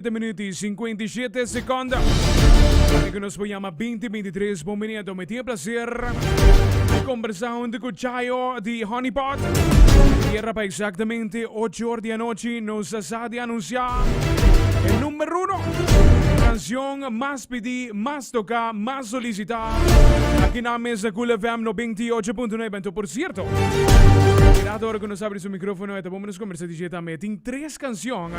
Siete minuut i sinkuenta i shete sekond. Ora ku nos por yama binti, binti tres bon minuut. Mi tin e plaser di kombersá huntu ku Chayo di Honey Pot. Yera pa eksaktamente ocho or di anochi nos a sa di anunsiá e number uno kanshon mas pidí, mas toká, mas solisitá aki nan mesa Kool FM no binti i ocho punto nuebe. Anto por sierto, e grato ora ku nos abri su mikrofono e ta bon pa nos kombersá di dje tambe. E tin tres. Tres cancion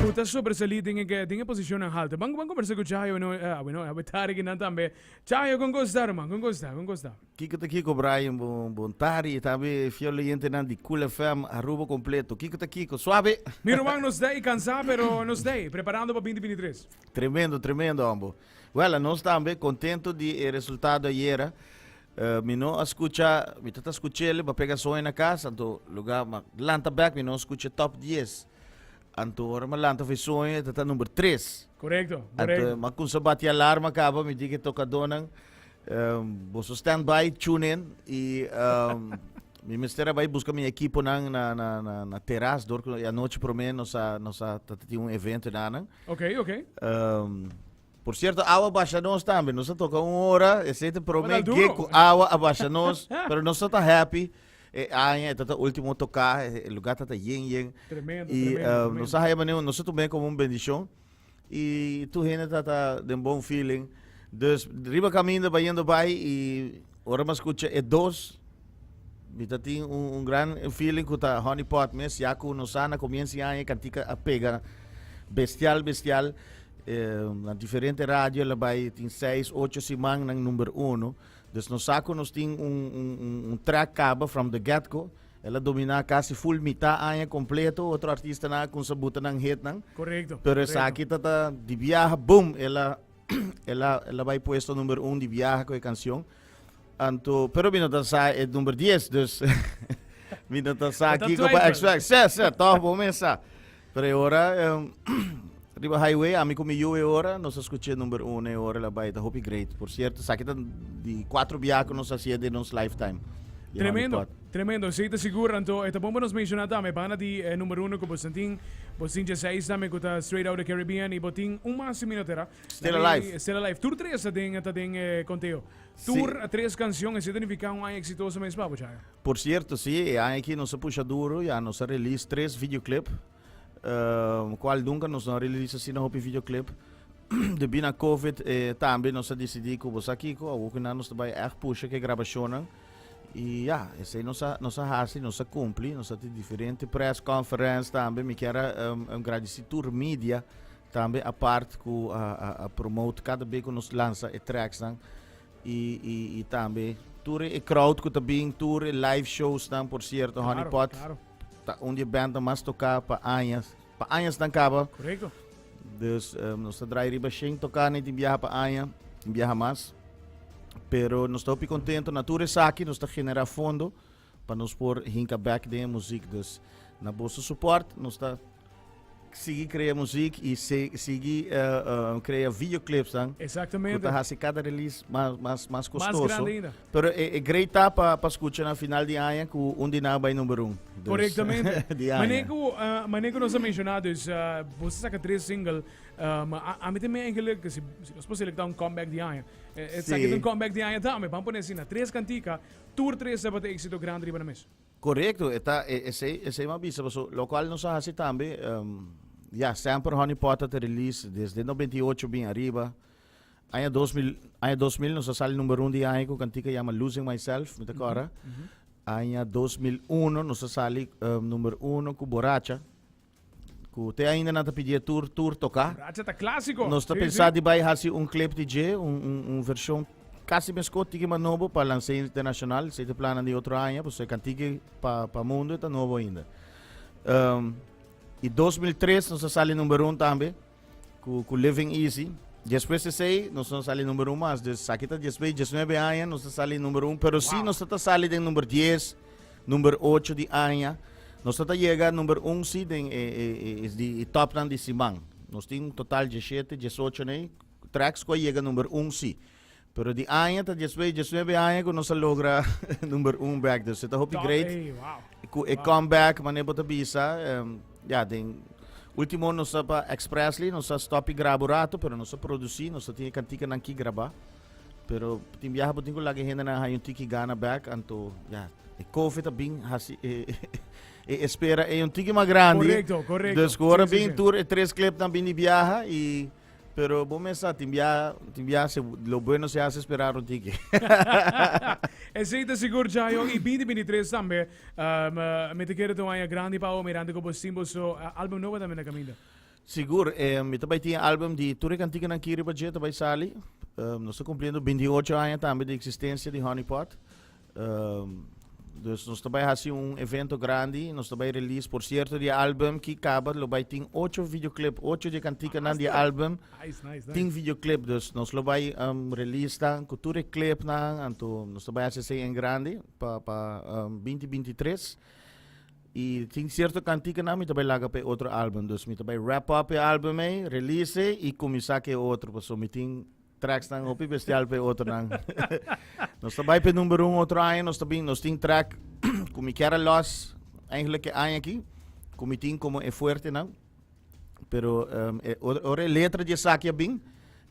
cu ta sobresali den e, den e posicionnan halto. Ban, ban conversa cu Chayo, bueno, eh, ah, bueno, awe tari ki nan tambe. Chayo, con cosa ta, ruman? Con cosa ta? Con cosa ta? Kiko ta kiko Brian bon bon tari y tambe fiel oyentenan di Cool FM Aruba completo kiko ta kiko suave. Mi ruman nos dei cansa pero nos dei preparando pa binti binti tres. Tremendo tremendo hombo. Wel a nos tambe contento di e resultado ayera. Uh, mi no a scucha, mi tata scuchele, pa pega soe na cas, anto lugar, ma lanta back, mi no scucha top 10. Anto ora ma lanta fe soe, tata number 3. Correcto, Anto, correcto. ma kun sa bati alarma kaba, mi di ke tokadonan, um, boso stand by, tune in, i um, mi mester abai busca mi equipo nan na, na, na, na terras, door ku anoche prome nos a, nos a tata tin un evento nanan. Oké, oké. Um, Por cierto awa basha nos tambe, nos a toca un hora, esey ta prome gig cu awa a basha nos, pero nos no ta happy, e aña eta ta ultimo toca, e lugar ta ta yen yen, tremendo, y tremendo, nos a haya benido, nos a tuma como un bendicion, y tur hende ta ta den bon feeling, dus riba caminda bayendo bay y ora mi a scucha e dos, Mi ta tin un, un gran feeling ku ta honeypot mes, ya ku nos sa na komiens di aña e kantika a pega bestial bestial. Eh, na diferente radio el a bai tin seis, ocho siman nan number uno. Dus nos sa ku nos tin un, un, un, un track kaba from the get go. El a domina kasi full mita aña kompleto, otro artistanan a kumsa buta nan hitnan. Korekto. Pero korekto. esaki ta ta di biaha, boom, el a el a el a bai puesto number uno di biaha ku e kansion. Anto, pero mi no ta sa e number 10, dus mi no ta sa ki ko pa expect. Se, se, toch bo mi sa. Pero e ora, um, riba highway, ami ku mi yu e ora, nos a skuche number 1 e ora la bai, ta hopi great. Por cierto, sa ki ta di 4 biaha ku nos hasier di nos lifetime. Di Mami Tremendo, Pot. tremendo. Sí, te seguro, Anto. E ta bon pa nos menciona tambe, pana di eh, number uno ku bosin tin, bosin dje seis tambe ku ta Straight Outta Caribbean, y botin un mas si mi no tera. Still Alive. Still Alive. Tur tres ta den, ta den eh, conteo. Tur sí. tres canción, es identifica un año exitoso mes pa bochaya. Por cierto, sí, e año aquí nos pusha duro, ya nos release tres videoclip, uh, cual nunca nos no release así na hopi videoclip. de bina COVID eh, también nos decidí que vos aquí, que algo que nos está echt pusha que grabaciones. E ja, esse aí nossa, nossa raça, nossa cumpli, nossa tem diferente press conference também, me quero um, um agradecer tur mídia, Tambe apart ku a promote kada be ku nos lansa e tracks nan i i i tambe tur e crowd ku ta bin tur e live shows nan por cierto claro, honeypot claro. ta un di band mas toka pa añas pa añas nan kaba correcto dus um, nos ta draai riba shen toka na tin biaha pa aña biaha mas pero nos ta hopi contento na tur esaki nos ta genera fondo Pa nos por hinka bek den e muzik dus na boso suport nos ta sigui krea muzik y sigui krea video clips nan ku ta hasi kada release mas mas kostoso pero e great ta pa skucha na final di aña ku un di nan a bai number un dus di aña. Mane ku nos a menshona dus boso saka tres single ma ami ta mira engelik si nos por selektá un comeback di aña esaki ta un comeback di aña tambe pan pone asina tres kantika. Tur tres tabata exito grandi riba nan mes. Corecto e ta e esey esey m'a bisa paso locual nos a haci tambe ya Stamper Honey Pot a ta release desde noventa y ocho bin ariba aña dos mil aña dos mil nos a sali number un di aña cu cantica yama Losing Myself mi ta cora aña dos mil uno nos a sali number uno cu Boracha cu te ainda na ta pidié tur, tur toca. Racha ta clásico. Nos ta sí, pensá sí. di bai haci un clip di dje, un, un, un version casi mesco tiki ma nobo pa lancé internacional. Se te planan di otro aña, pues e cantiki pa, pa mundo e ta nobo ainda. Um, y 2003 nos a sali number un tambe. Ku, ku Living Easy. Despues di esei, nos no sali numero un mas. Dus sa ki ta despues di dieznuebe aña, nos ta sali numero un. Pero si nos ta ta sali den number dies, number ocho di aña, nos ta ta yega number un si den e, e, e, di e topnan di siman. Nos tin un total dieshete, diesocho nei tracks ku a yega number un si. Pero di aña ta despues diecinuebe aña ku nos a logra number un back. Dus e ta hopi great. Ku e comeback, mane bo ta bisa. em, ja, den ultimo nos a pa Expressly, nos a stopi graba un rato, pero nos a produci, nos a tin e kantikanan ki graba. Pero tin biaha bo tin ku laga e hendenan haña un tiki gana back, anto, ja, e kofe ta bin hasi e, e espera ei un tiki mas grandi. Correcto, correcto. Dus ku ora Sí, sí, bin sí. tur e tres klepnan bini biaha i Pero bo mes sa tin bia tin bia se lo bueno se hace esperar un tiki. Esei ta sigur Jayo i 2023 tambe um, uh, mi te kere ta un aña grandi pa o mirante ku bo sin bo so uh, álbum nobo tambe na kaminda. Sigur, eh, mi ta bai tin álbum di tur e kantikanan ki riba dje ta bai sali. Um, nos ta cumpliendo 28 aña tambe di existencia di Honeypot. Dus nos ta bai hasi un evento grandi, nos ta bai release por sierto di e album ki kaba, lo bai tin ocho videoclip, ocho di e kantikanan di e album tin videoclip, dus nos lo bai release nan ku tur e klipnan, anto nos ta bai hasi esei en grandi pa pa binti binti i tres, i tin sierto kantikanan mi ta bai laga pa e otro album, dus mi ta bai wrap up e album ei, release ei i kuminsá ku e otro pasobra mi tin. tracksnan hopi bestial p'e otronan. nos ta bai p'e number un otro aña, nos ta bin, nos tin track cu mi kier a los, eigenlijk e aña aquí, cu mi tin como e fuertenan. Pero um, e, ora, ora e letra di esaki a bin,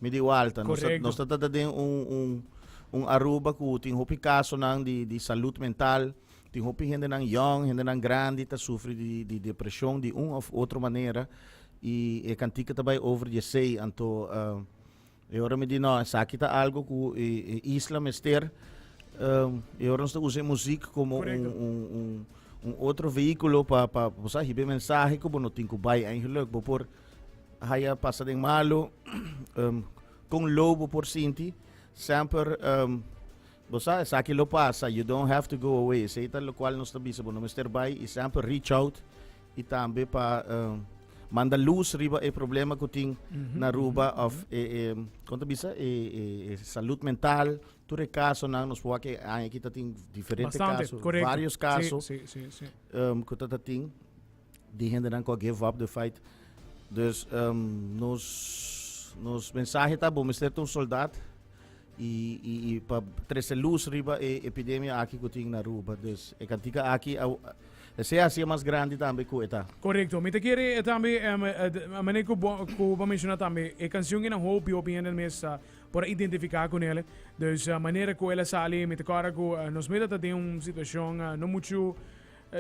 mi di walta. Nos ta, Correcto. nos ta tata den un, un, un Aruba cu tin hopi casonan di, di salud mental, tin hopi hendenan young, hendenan grandi ta sufri di, di depresion di un of otro manera. Y e cantica ta bai over di esei, anto... um, E ora mi di no, esaki ta algo ku e, e isla mester. Um, e ora nos ta usa e muziek como un, un, un, un otro vehículo pa, pa, pa sa, hibe mensahe ku bo no tin ku bai en geluk. Bo por haya pasa den malo, um, kon low bo por sinti, semper um, Bo sa, esaki lo pasa, you don't have to go away. Esei ta lokual nos ta bisa bo no mester bai i semper reach out i tambe pa manda lus riba e problema ku tin na Aruba of e, e kon ta bisa, e, e, e salud mental, tur e kasonan, nos por wak e aña aki ta tin diferente Bastante, kaso, korekto. varios Si, kaso si, si, si. um, ku ta ta tin. di hendenan ku a give up the fight. Dus um, nos, nos mensahe ta bo mester un soldat i, i, i pa trece luz riba e epidemia aki ku tin na Aruba. Dus e kantika aki a, e sea hacia mas grandi tambe ku eta. Correcto. Mi te kere eh, tambe, em, eh, de- a mane ku bo- ku bo menciona tambe, e canción kinan hopi, hopi hende mes ah, por identifica con ele. Dus ah, manera ku el a sali, mi te kora ku ah, nos mita ta den un situacion ah, no mucho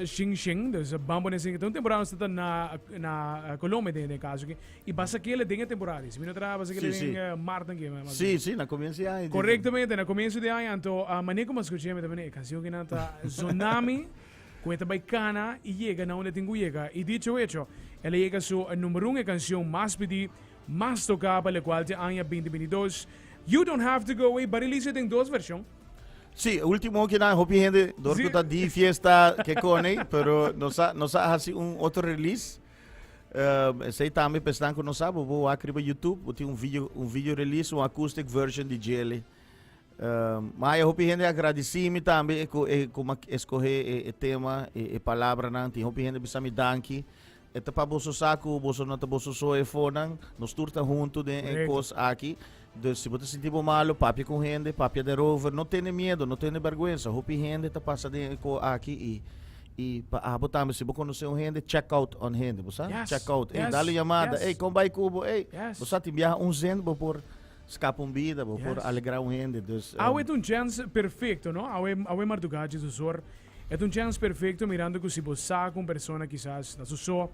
Xinxin, dus ban pone asin, ta un temporada nos ta ta na na Colombia den e kaso aki, i basa kila den e temporada esa, mi no traha basa kila Sí, den sí. mart nan ke mas o menos. Sí, sí, na comienzo di aña. Correctamente, na comienzo di aña, anto a mane como escuché mi ta mane e canción aquí nan ta Zonami, cu e ta bay cana y yega na unda tin cu yega. Y dicho hecho, el a yega su number un e canción mas pidi Mas toká pa lekual te aña binti binti dos. You Don't Have To Go Away Buddy Lisa den dos vershon. Sí, e último hopi nan hopi hende dor ku ta di fiesta ke konei, pero nos a nos a hasi un otro release. Um, esei tambe pa esnan ku no sa, bo bo wak riba YouTube, bo tin un video un video release, un acoustic version di Jele. Um, ma e hopi hende a agradisi mi tambe e ku e kuma eskohe e, e tema, e, e palabranan. Tin hopi hende bisa mi danki. E ta pa boso sa ku boso no ta boso so e fonan. Nos tur ta huntu den e kos aki. Dus si bo ta sinti bo malu, papia ku hende, papia derover. No tene miedu, no tene bèrgwensa. Hopi hende ta pasa den e kos aki i i pa abo tambe si bo konosé un hende, check out on hende, bo sa? Check out, ey, dal un yamada, ey, kon bai ku bo, ey. Bo sa, tin biaha un zend bo por skapa un bida, bo por alegrá un hende. Dus, um. Awe ta un chèns perfekto, no? Awe, awe marduga Jesus hoor E ta un chèns perfekto mirando ku si bo sa ku un persona kisas ta su so,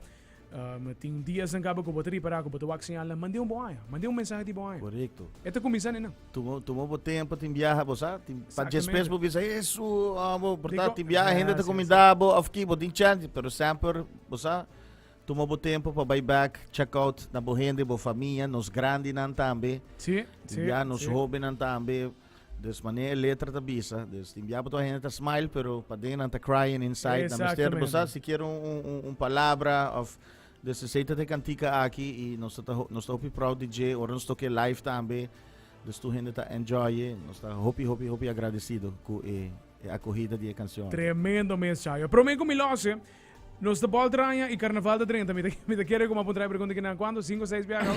tin un dianan kaba ku bo ta ripará ku bo ta wak señalnan, mand'é un boaña, mand'é un mensahe di boaña. Korekto. E ta kuminsá nenan. Tuma tuma bo tempu, tin biaha bo sa, tin pa djespes bo bisa Hesu, aa bo portá tin biaha hende ta kumindá bo òf ki, bo tin chèns, pero semper bo sa tuma bo tempu pa bai bèk chèk out na bo hende, bo famia, nos grandinan tambe, tin biaha nos hobennan tambe. Dus mane e letra ta bisa. Dus tin biapo toa hende ta smile, pero paden nan ta crying inside. Nan mester bo sa si kier un, un, un, un palabra of dus esei ta te kantika aki i nos ta nos ta hopi proud di dje ora nos toke live tambe. Dus tur hende ta enjoy e nos ta hopi hopi hopi agradecido ku e e akohida di e kansion. Tremendo mes, Chayo. Promé ku mi lòs e. Nos ta por traña y carnaval ta drenta. Mi ta, mi ta kere como apuntar e pregunta kinan. Cuando? Cinco, seis biaga?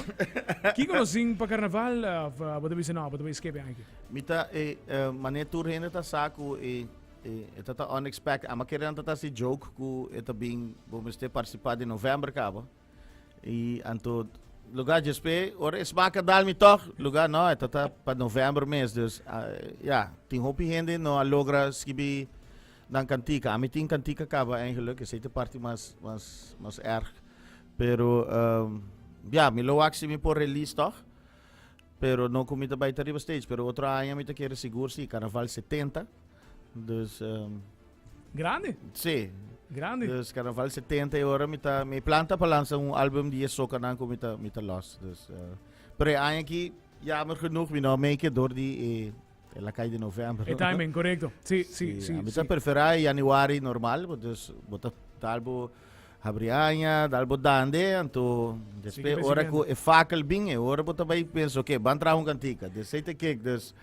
Kiko nos sin pa carnaval? Of uh, bota bisa no, bota bisa escape anki. Mi ta, eh, eh, mané tur hende ta sa ku e, e, e ta ta unexpected. Ama kere nan ta ta si joke ku e ta bin, bo mester participá di november kaba. Y anto lugar djespé, ora es baka dal mi toch, lugar no, e tata pa november mes, dus ah, ja, tin hopi hende no a logra skibi dan kantika. Ami tin kantika kaba eigenlijk, esei te parti mas, mas, mas erg. Pero, ehm, ja, mi lo wak si mi por release toch, pero no ku mi ta bai ta riba stage, pero otro aña mi ta kere sigur si, carnaval 70, Dus um, Grande. sí, Grande. dus carnaval 70 e ora mi ta mi planta pa lanza un album di e socanan cu mi ta mi ta los. Dus eh, pero e aña aquí jammer genoeg mi no make it door di e, e la calle de november. E timing, correcto. Sí, sí, sí. a mi sí. ta prefera e januari normal, bo, dus bo ta talbo Habri aña, dal bo dande, anto despe ora ku e fakel bin, e ora bo ta bai pensa, ok, ban traha un kantika, desei te kek, dus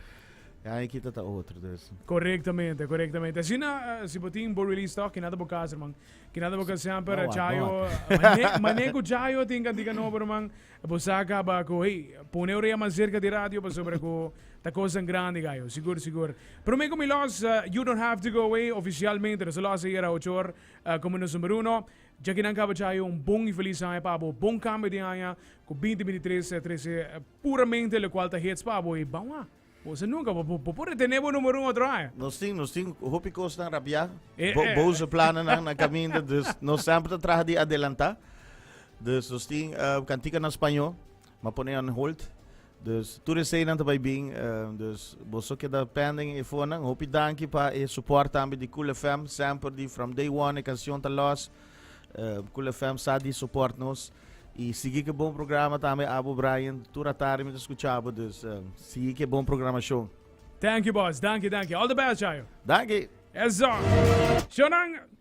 e aña kita ta otro. Dus. Korektamente, korektamente. Asina, si bo tin bo release stock, kina ta bo kas, ruman? Kina ta bo kas semper? Chayo, mane, mane ku Chayo tin kantika nobo, ruman, bo sa kaba ku, hey, pone orea mas serka di radio, pasobra ku ta kosnan grandi ka yo. Sigur, sigur. Promé ku mi lòs You Don't Have To Go Away oficialmente, lo sa lòs ayera ocho or. Komo nos number uno, djaki nan kaba djai un bon i felis aña pa bo, bon kambio di aña ku binti binti tres ta trese puramente lokual ta hits pa bo i bawha bo sa nunka bo bo por retene bo number uno otro aña. Nos tin nos tin hopi kosnan rapiá, bo boso planennan na kaminda, dus nos semper ta traha di adelantá, dus nos tin kantika na spañó. M'a pone on hold. Dus tur e seinan ta bai bin. Dus bo so keda pending e fonan. Hopi danki pa e suport tambe di Cool FM. Semper di from day one e canción ta los. Cool FM sa di suport nos. Y sigui ki bon programa tambe abo Brian. Tur atarde mi ta scuchabo dus sigui ki bon programacion. Thank you boss. Danki danki. All the best djayo. Danki. Eso. Shonan.